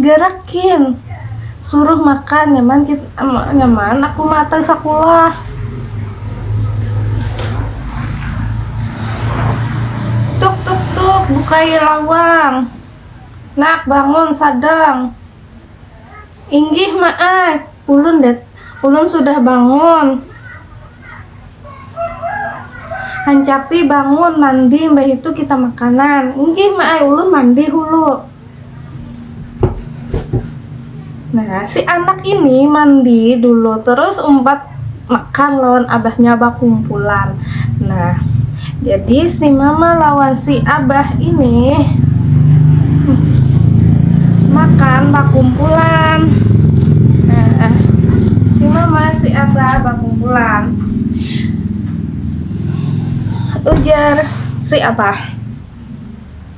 Gerak kin. Suruh makan nyaman kit nyaman aku mata sakulah. Tuk tuk tuk bukai lawang. Nak bangun sadang. Inggih ma ai, ulun dat ulun sudah bangun. Hancapi bangun mandi mbahitu kita makanan. Inggih ma ai, ulun mandi hulu. Nah, si anak ini mandi dulu terus umpat makan lawan abahnya bakumpulan nah jadi si mama lawan si abah ini makan bakumpulan nah si mama si abah bakumpulan ujar si abah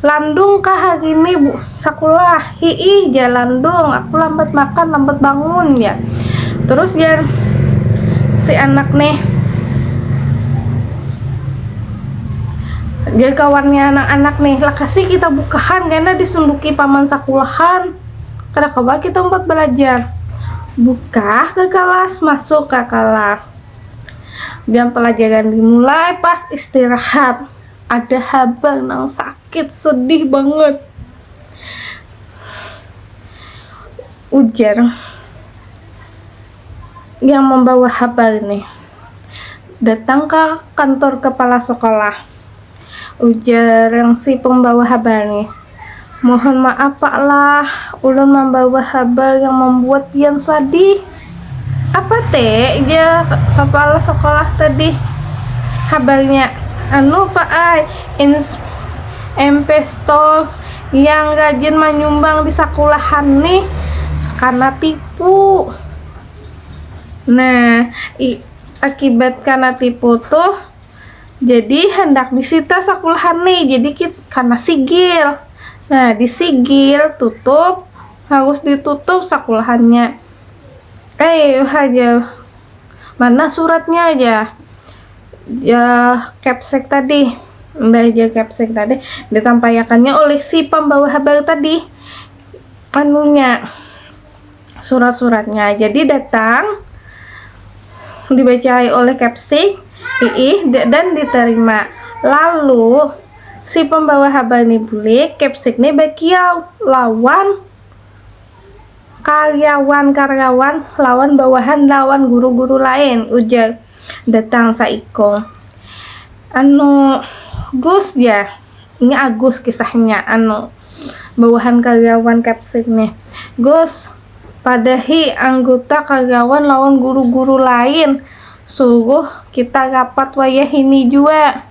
Landung kah hari ini sakulah? Hiih jar Landung, aku lambat makan, lambat bangun ya. Terus jar si anak nih jar kawannya anak-anak nih lah kasih kita bukahan karena disunduki paman sakulahan kada kawa kita umpat belajar buka ke kelas masuk ke kelas jam pelajaran dimulai pas istirahat ada habang nang sakit sedih banget ujar yang membawa habang ini datang ke kantor kepala sekolah ujar yang si pembawa habang ini Mohon maaf pak lah, ulun mambawa habar yang mambuat pian sadih. Apa te? ja kapala sekolah tadi. Habarnya, anu pak ai, inpestor yang rajin manyumbang di sakulahan nih kana tipu. Nah, akibat kana tipu tuh, Jadi handak disita sakulahan nih. Jadi kita karena sigil. Nah, disigil, tutup, harus ditutup sakulahannya. Eh, aja. Mana suratnya aja? Ya, capsek tadi. Mbak aja capsek tadi ditampayakannya oleh si pembawa habar tadi. Anunya. surat-suratnya jadi datang dibacai oleh Kepsik Iih dan diterima lalu si pembawa habal ni bulik Kepsik ni bakiau lawan karyawan-karyawan lawan bawahan lawan guru-guru lain ujar Datang saikung. Anu, Gus jar. Nya Agus kisahnya, anu, bawahan karyawan Kepsek nih. Gus, padahi angguta karyawan lawan guru-guru lain, suruh kita rapat wayahini jua.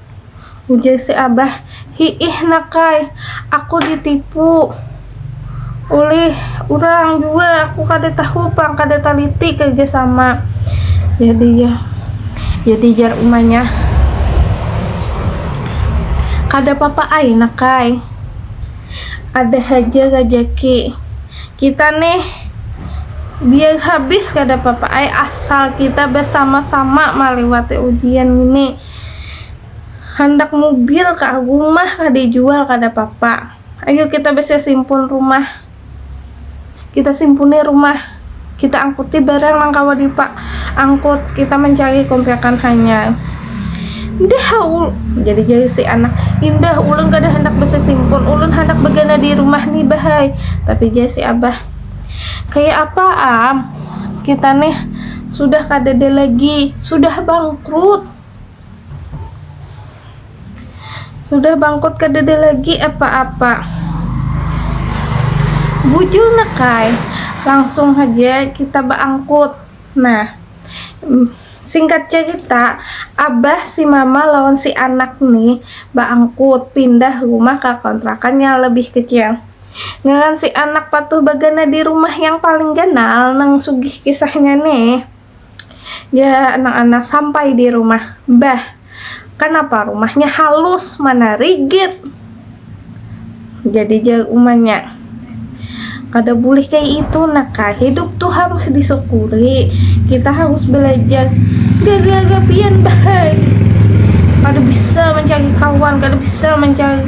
Ujar si abah, hiih nak ai, aku ditipu ulih urang jua, aku kada tahu pang, kada taliti kerja sama. Jadi jar, jadi jar umanya, kada papa ai nak ai, ada haja rajaki kita nih, biar habis kada papa ai asal kita basama-sama maliwati ujian ngini. handak mubil kah gumah kah dijual kada papa ayu kita bisi simpun rumah kita simpuni rumah kita angkuti barang nang kawa dipa angkut kita mancari kontrakan hanyar dah ul jadi jari si anak indah ulun kada handak bisi simpun ulun handak bagana di rumah ni bah ai tapi jar si abah kaya apa am kita nih Sudah kadada lagi, sudah bangkrut. Sudah bangkrut kadada lagi apa-apa. Bujur nakai, langsung saja kita beangkut. Nah, singkat cerita abah si mama lawan si anak nih baangkut pindah rumah ke kontrakan yang lebih kecil Ngaran si anak patuh bagana di rumah yang paling ganal nang sugih kisahnya nih. Ya anak-anak sampai di rumah. Bah, kanapa rumahnya halus mana rigid? Jadi jauh umanya. Kada boleh kayak itu naka. Hidup tuh harus disyukuri. Kita harus belajar. Gara-gara pian bahai. Kada bisa mencari kawan, kada bisa mencari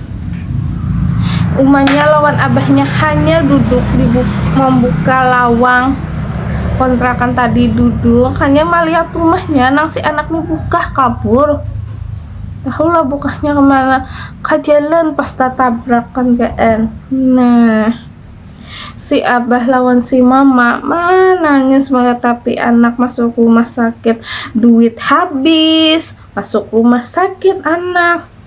Umanya lawan abahnya hanya duduk di mambuka lawang kontrakan tadi duduk hanya malihat rumahnya nang si anak ni bukah kabur tahulah bukahnya kemana ka jalan pas tatabrakan kn nah si abah lawan si mama manangis maratapi anak masuk rumah sakit duit habis masuk rumah sakit anak.